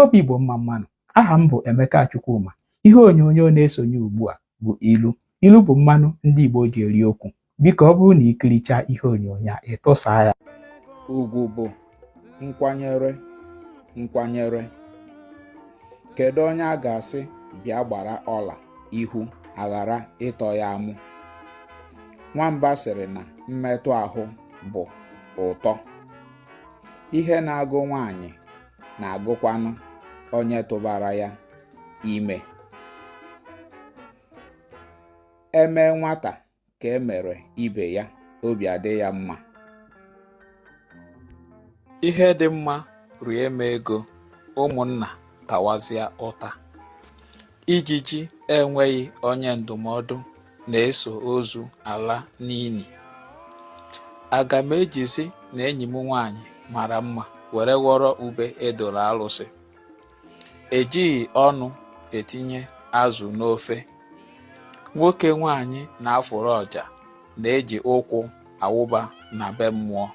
obi Igbo mma mma nụ aha m bụ Emeka Chukwuma ihe onyonyo na-esonye ugbu a bụ ilu ilu bụ mmanụ ndị Igbo ji eri okwu biko ọ bụrụ na i kirichaa ihe onyonyo a ị tụsaa ya ugwu bụ nkwanyere nkwanyere kedu onye a ga-asị bịa gbara ọla ihu aghara ịtọ ya amụ nwamba sịrị na mmetụ ahụ bụ ụtọ ihe na-agụ nwaanyị na-agụkwanụ onye tụbara ya ime e mee nwata ka e mere ibe ya obi adị ya mma ihe dị mma rie m ego ụmụnna tawazịa ụta Ijiji enweghị onye ndụmọdụ na-eso ozu ala n'ili. Aga m ejizi na enyi m nwaanyị mara mma were ghọrọ ube e doro alụsị. E jighị ọnụ etinye azụ n'ofe. Nwoke nwaanyị na-afụrụ ọja na-eji ụkwụ awụba na be mmụọ.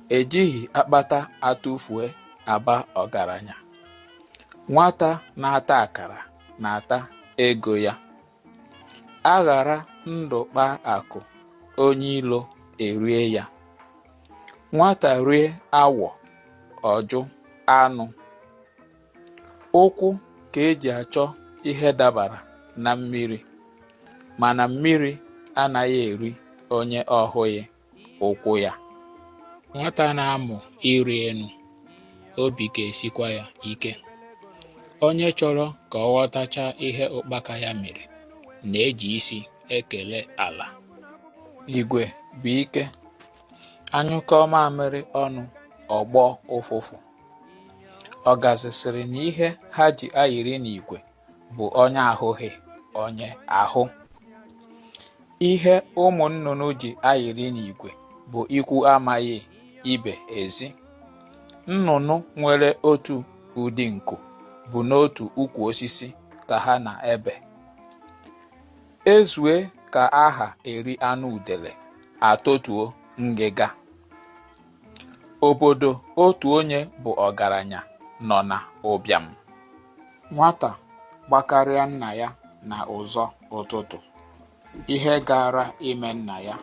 E jighị akpata atụfue aba ọgaranya. Nwata na-ata akara na-ata ego ya. A ghara ndụ kpaa akụ, onye ilo erie ya. Nwata rie awọ, ọ jụ anụ. Ụkwụ ka e ji achọ ihe dabara na mmiri, mana mmiri anaghị eri onye ọ hụghị. ụkwụ ya nwata na-amụ ịrị elu obi ga-esikwa ya ike onye chọrọ ka ọ ghọtachaa ihe ụkpaka ya mere na-eji isi ekele ala igwe bụ ike a nyụkọọ mamịrị ọnụ ọ gbọọ ụfụfụ ọgazị sịrị na ihe ha ji ayịrị n'igwe bụ onye ahụghị onye ahụ. Ihe ụmụ nnụnụ ji ayịrị n'igwe bụ ikwu amaghị ibe ezi. Nnụnụ nwere otu ụdị nku bụ n'otu ukwu osisi ka ha na-ebe. E zue ka a ha eri anụ udele, a totuo ngịga. Obodo otu onye bụ ọgaranya nọ na ụbịam. Nwata gbakarịa nna ya na ụzọ ụtụtụ, ihe gaara ime nna ya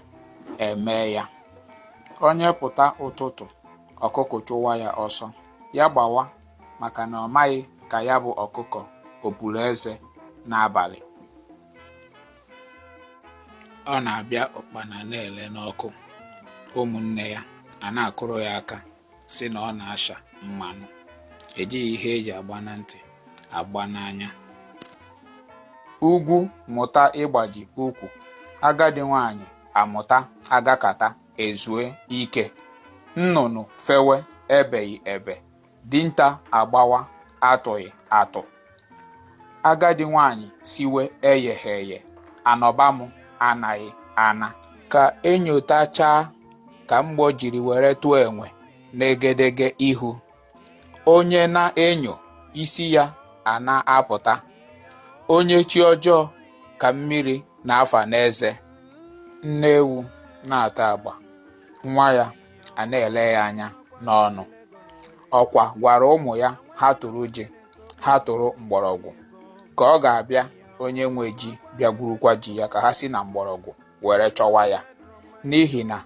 emee ya. Onye pụta ụtụtụ, ọkụkọ chụwa ya ọsọ, ya gbawa maka na ọ maghị ka ya bụ ọkụkọ o puru eze n'abalị. ọ na-abịa ụkpana na-ele n'ọkụ ụmụnne ya a na-akụrụ ya aka sị na ọ na-asha mmanụ ejighị ihe e ji agba na ntị agba n'anya ugwu mụta ịgbaji ukwu agadi nwanyị amụta agakata ezue ike nnụnụ fewe ebeghị ebe Dinta agbawa atụghị atụ. Agadi nwaanyị siwe eyeghị eye. Anọba m anaghị ana. Ka e nyotachaa ka mgbọ jiri were tụọ enwe n'egedege ihu. Onye na-enyo, isi ya a na-apụta. Onye chi ọjọọ ka mmiri na-afa n'eze. Nne ewu na-ata agba nwa ya. a na-ele ya anya n'ọnụ ọkwa gwara ụmụ ya ha tụrụ ji ha tụrụ mgbọrọgwụ ka ọ ga-abịa onye nwe ji bịa gwurukwa ji ya ka ha si na mgbọrọgwụ were chọwa ya n'ihi na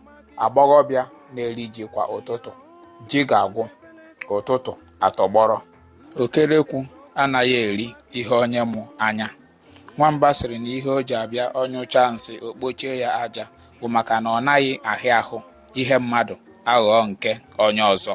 agbọghọbịa na-eri ji kwa ụtụtụ ji ga-agwụ ụtụtụ atọgbọrọ okerekwu anaghị eri ihe onye mụ anya Nwamba sịrị na ihe o ji abịa ọ nyụchaa nsị o kpochie ya aja bụ maka na ọ naghị ahịa ahụ ihe mmadụ aghọọ nke onye ọzọ.